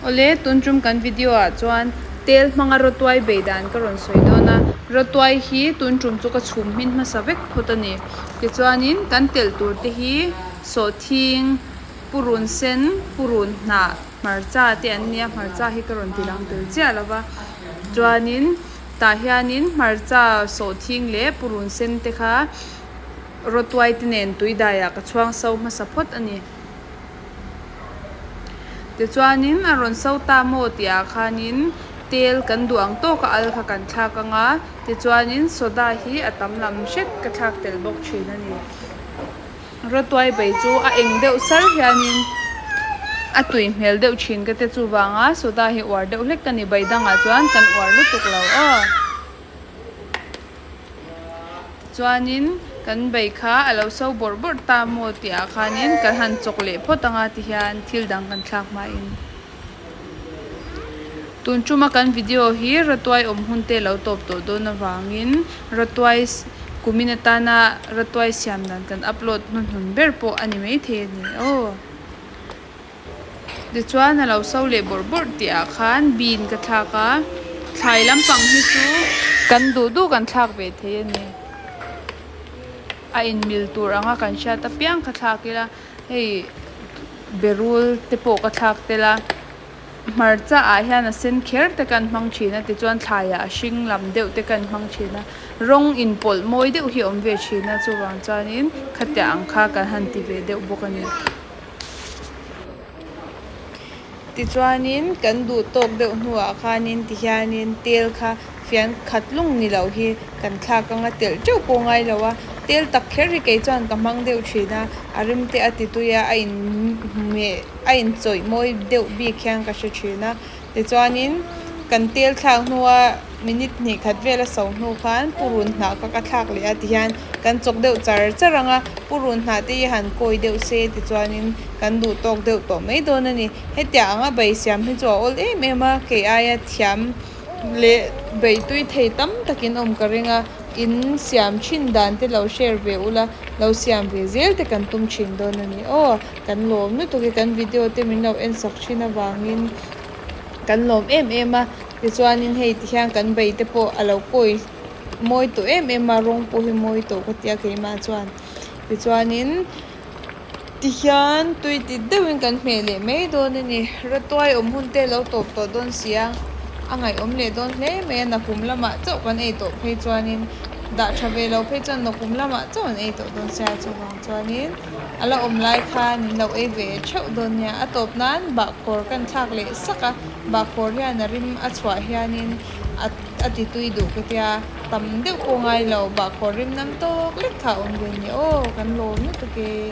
Awle, tun tum kan video ah chuan tel hmanga rotuai bei dan ka rawn sawi dawn a, rotuai hi tun tum chu ka chhum hmin hmasa vek phawt a ni. Tichuanin kan telh tur te hi sawhthing, purun sen, purun hnah, hmarcha te an nia, hmarcha hi ka rawn ti dang tel chiah lo va, chuanin tah hianin hmarcha, sawhthing leh purun sen te kha rotuai te nen tuidai ah ka chhuangso hmasa phawt a ni. Tichuanin a rawn so ta maw tih ah khanin tel kan duh ang tawk a al kha kan thlak ang a, tichuanin soda hi a tam lam hret ka thlak tel bawk thin a ni. Rotuai bei chu a eng deuh sar hianin a tui hmel deuh thin ka te chuvanga soda hi uar deuh hlek ka ni, beidangah chuan kan uar lutuk lo aw. Chuanin kan bei kha a lo so bawrh bawrh ta maw tih ah khanin kan han chawk leh phawt anga ti hian thil dang kan thlak hma in tun tuma kan video hi Ratuai awm hun te lo tawp tawh dawn avangin Ratuai kumin atana Ratuai siam dan kan upload hnu hnun ber pawh a ni maithei a ni aw. Tichuan a lo so leh bawrh bawrh teh ah khan bean ka thlak a, thlai lampang hi chu kan duh duh kan thlak ve thei a ni. A inmil tur ang a kan hriat apiang kha thlak ila, hei berul te pawh ka thlak tel a, hmarcha ah hian a sen kher te kan hmang thin a, tichuan thlai ah a hring lam deuh te kan hmang thin a, rawng inpawlh mawi deuh hi awm ve thin a, chuvang chuan in khatiang ang kha kan han ti ve deuh bawk a ni. Tichuanin kan duh tawk deuh hnuah khanin ti hianin tel kha fian khat lung ni loh hi kan thlak anga telh teuh pawh ngai lo a, tel tak kher hi kei chuan ka hmang deuh thin a, a rim te a ti tui a, a in meh a in chawih mawi deuh bik hian ka hre thin a. Tichuanin, kan tel thlak hnua minute hnih khat vel a so hnu khan purun hnah ka ka thlak leh a ti hian kan chawk deuh char char ang a, purun hnah te hi han kawi deuh se tichuanin kan duh tawk deuh tawh mai dawn a ni. Hetiah anga bei siam hi chu a awl em em a, kei aia thiam leh bei tui thei tam takin awm ka ring a, in siam thin dan te lo share ve ula lo siam ve zel te kan tum thin dawn a ni aw. Kan lawm lutuk i kan video te min lo en sak thin avangin kan lawm em em a, tichuanin hei ti hian kan bei te pawh a lo pawi mawi tawh em em a, rawng pawh hi mawi tawh ka ti a keimah chuan, tichuanin ti hian tui ti deuhin kan hmeh leh mai dawn a ni, ratuai awm hun te lo tawp tawh dawn sia, a ngaihawm leh dawn hle mai a, nakum lamah chauh kan ei tawh phei chuanin dah tha ve lo phei chuan nakum lamah chauh an ei tawh dawn sia chuvang chuanin. A la awm lai kha min lo ei ve theuh dawn nia. A tawp nan bahkawr ka inthlak leh sak a, bahkawr hian a rim a chhuah hianin a ti tui duh ka tia, tam deuh pawh ngai lo, bahkawr rim nam tawk lek kha a awm ve nia aw, kan lawm lutuk e.